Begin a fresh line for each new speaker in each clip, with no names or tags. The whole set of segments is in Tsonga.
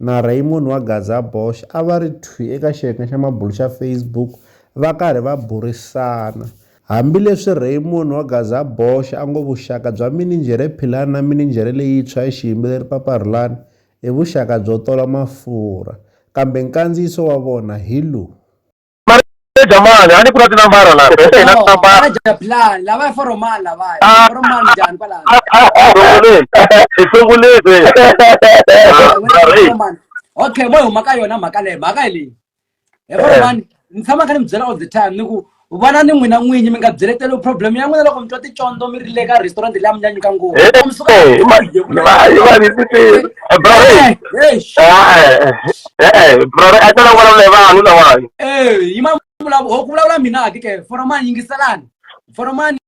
na Raymond wa Gaza Bosch a va ri thwi eka xiyenge xa mabulo xa Facebook va karhi va burisana. Hambileswi Raymond wa Gaza Bosch a ngo vuxaka bya mininjhere Philani na mininjhere leyintshwa ya xiyimbeleri Papa Rhulani i vuxaka byo tola mafurha, kambe nkandziyiso wa vona hi lowu.
jamani, yani kuna tena mbara na pesa ina tena mbara. Ana japlan, la vai
foro mal la vai. Ah. Foro mal jan pala. Ifungule, ifungule. Okay, moyo maka yona maka le, maka le. E foro eh. man, ntshama ka ni byela all the time ni ku vana ni n'wina n'winyi mi nga byeleteli problem ya n'wina loko mi twa ticondo mi ri le ka restaurant leyi a mi nyanyuka ngopfu eh, eh,
Eh, brother, a tala vulavula hi vanhu lawani. Eh, yi ma
vulavula ku vulavula mina a ke for mani yingiselani. For mani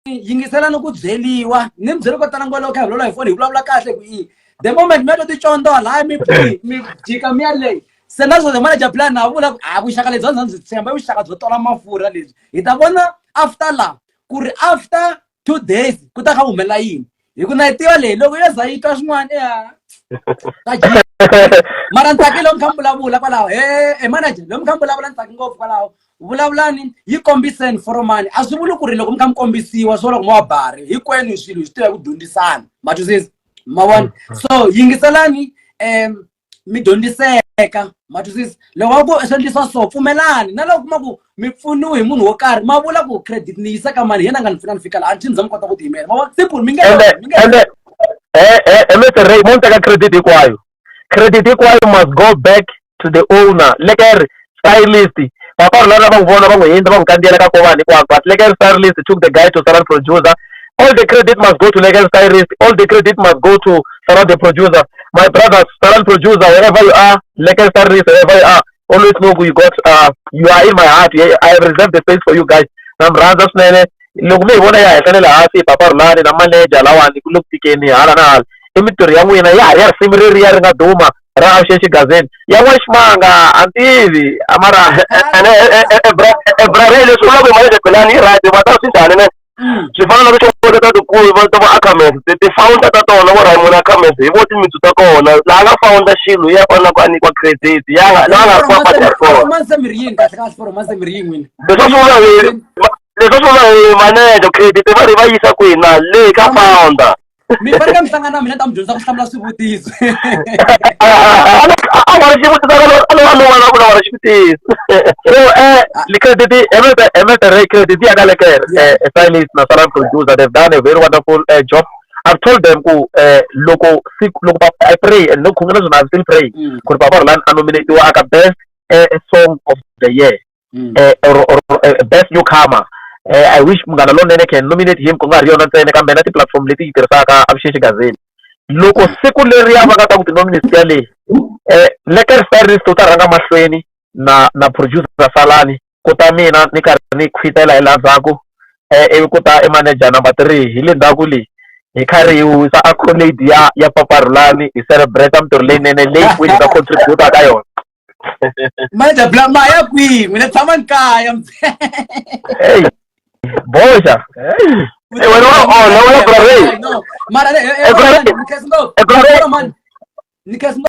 yingiselani ku byeliwa. Ni mi byeli ko tala ngwalo ka hi vulavula hi foni hi vulavula kahle ku yi. The moment mi to ti condo la mi mi jika mi yale. Se na zwo mara ja plan na vula a vuxaka lebyi ndzi tshemba vuxaka byo tola mafurha lebyi. Hi ta vona after la ku ri after two days ku ta kha ku humelela yini hi ku na yi tiva leyi loko yo za yi twa swin'wana ya ta ji mara ni tsakile mi kha mi vulavula kwalaho he e manager loyi mi kha mi vulavula ni tsaki ngopfu kwalaho vulavulani yi kombiseni foromani a swi vuli ku ri loko mi kha mi kombisiwa swo loko mi wa bari hinkwenu swilo hi swi tiva ku dyondzisana ma twisisa ma vona so yingiselani um mi dyondziseka ma twisisa loko va ku swi endlisa so pfumelani na loko kuma ku mi pfuniwe hi munhu wo karhi ma vula ku credit ni yisa ka mani hi yena a nga ni pfuna ni fika laha a ni za mi kota ku tiyimela ma vona simple mi nge mi nge ende e
Mr Ray mo ni teka credit hinkwayo credit hinkwayo must go back to the owner leke ri stylist papa rona lava n'wi vona va n'wi hindza va n'wi kandziyela ka ko vanhu hinkwako but legal stylist took the guy to saran producer all the credit must go to legal stylist all the credit must go to saran the producer my brother saran producer wherever you are legal stylist wherever you are always know you got uh, you are in my heart i have reserved the space for you guys na mi rhandza swinene loko mi hi vona ya henhla ne le hansi papa rulani na manager lawani ku le ku tikeni hala na hala i mintirho ya n'wina ya ha ri ya risimu reriya ri nga duma ra Avuxexi Gazette ya n'waximanga a ni tivi a mara ebrareni leswi vulaka hi malembe belani yi right va ta swi njhani ne mm. swi fana na tichokola ta tikulu va ta va acamers ti-founder ta tona vo raymond acamers hi vo timitsu ta kona laha nga founder xilo ya kona ku a nyikiwa credit ya nga laha nga ri kwapati ya kona leswi
swi vula
hi leswi swi vula hi manager credit va ri va yisa kwini na le ka founder
mi fanekele
mi hlangana na mina ta mi dyondza ku hlamula swivutiso a nga ri xivutiso a lova lova na ku lava ri xivutiso so eh credit every every ray credit ya ka lekere eh stylist na sala producer they've done a very wonderful uh, job I've told them ku eh loko siku loko I pray and loko khongela zona I'm still praying ku ri baba Rolani a nominate wa aka best eh, song of the year mm. eh, or, or, or eh, best newcomer eh, i wish munghana lonene can nominate him ku nga ri yona ntsena kambe na ti-platform leti yi tirhisaka avuxexi gazini loko siku leri ya va nga ta ku ti-nominate ya leyi um eh, leker styrist u ta rhanga mahlweni na na producer salani ku ta mina ni karhi ni khwitela hi laha ndzhaku um ivi ku ta i manager number three hi le ndzhaku leyi hi karhi hi wisa accolade ya ya paparhulani hi celebrate mintirho leyinene leyi kwini nga contributa ka yona
manje bla maya kwihi mina ni tshama ni kaya Hey. Boxa. Hey. Eh,
wena wa onha, wena brother. No, mara le- eh, eh,
Eh, brother. ni khensa ngopfu. Eh, brother. Mara mani, ni khensa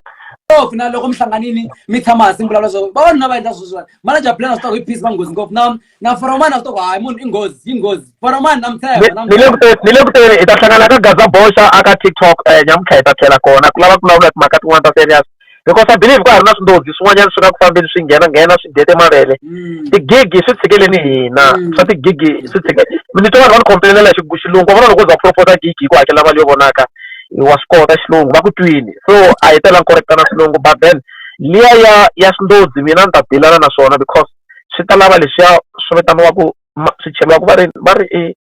ngopfu na loko mi hlanganini mi tshama hansi mi vulavula swo vavanuna va endla sweswiwani manager plan swi ta ku i peace va nghozi ngopfu na na foromani a swi to ku hayi munhu i nghozi yi nghozi foromani na mthemba ni le kuteni ni le kuteni
hi ta hlangana ka gaza boxa aka tiktok um eh, nyamutlha hi ta tlhela kona ku lava ku vulavula timhaka tin'wana ta serious because i believe ka ha ri na swindodzi swin'wanyana swi nga ku fambeni swi nghena nghena swi dete mavele mm. tigigi swi tshikeleni hina mm. swa tigigi swi tshike ni twa vanhu va ni khompelelela hi xilungu va vona loko u za ku propose gigi hi ku hakela mali yo vonaka wa swi kota xilungu va ku twini so a hi tela ni correctana swilungu but then liya ya ya swindodzi mina ni ta dilana na swona because swi ta lava leswiya swi vitaniwaka swi cheriwaka va ri va ri i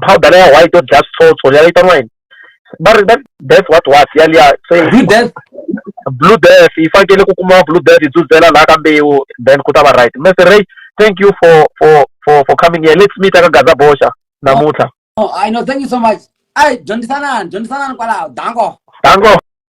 powder leyi ya white yo dlaya switsotso liya yi vitaniwa yini va ri va death what what yaliya se blue death blue death yi fanekele ku kuma blue death yi dzudzela laha ka mbewu then ku ta va right mese ray thank you for for for for coming here let's meet aka gaza boxa namuntlha oh, i
know thank you so much ai dyondzisanani dyondzisanani kwalaho dango dango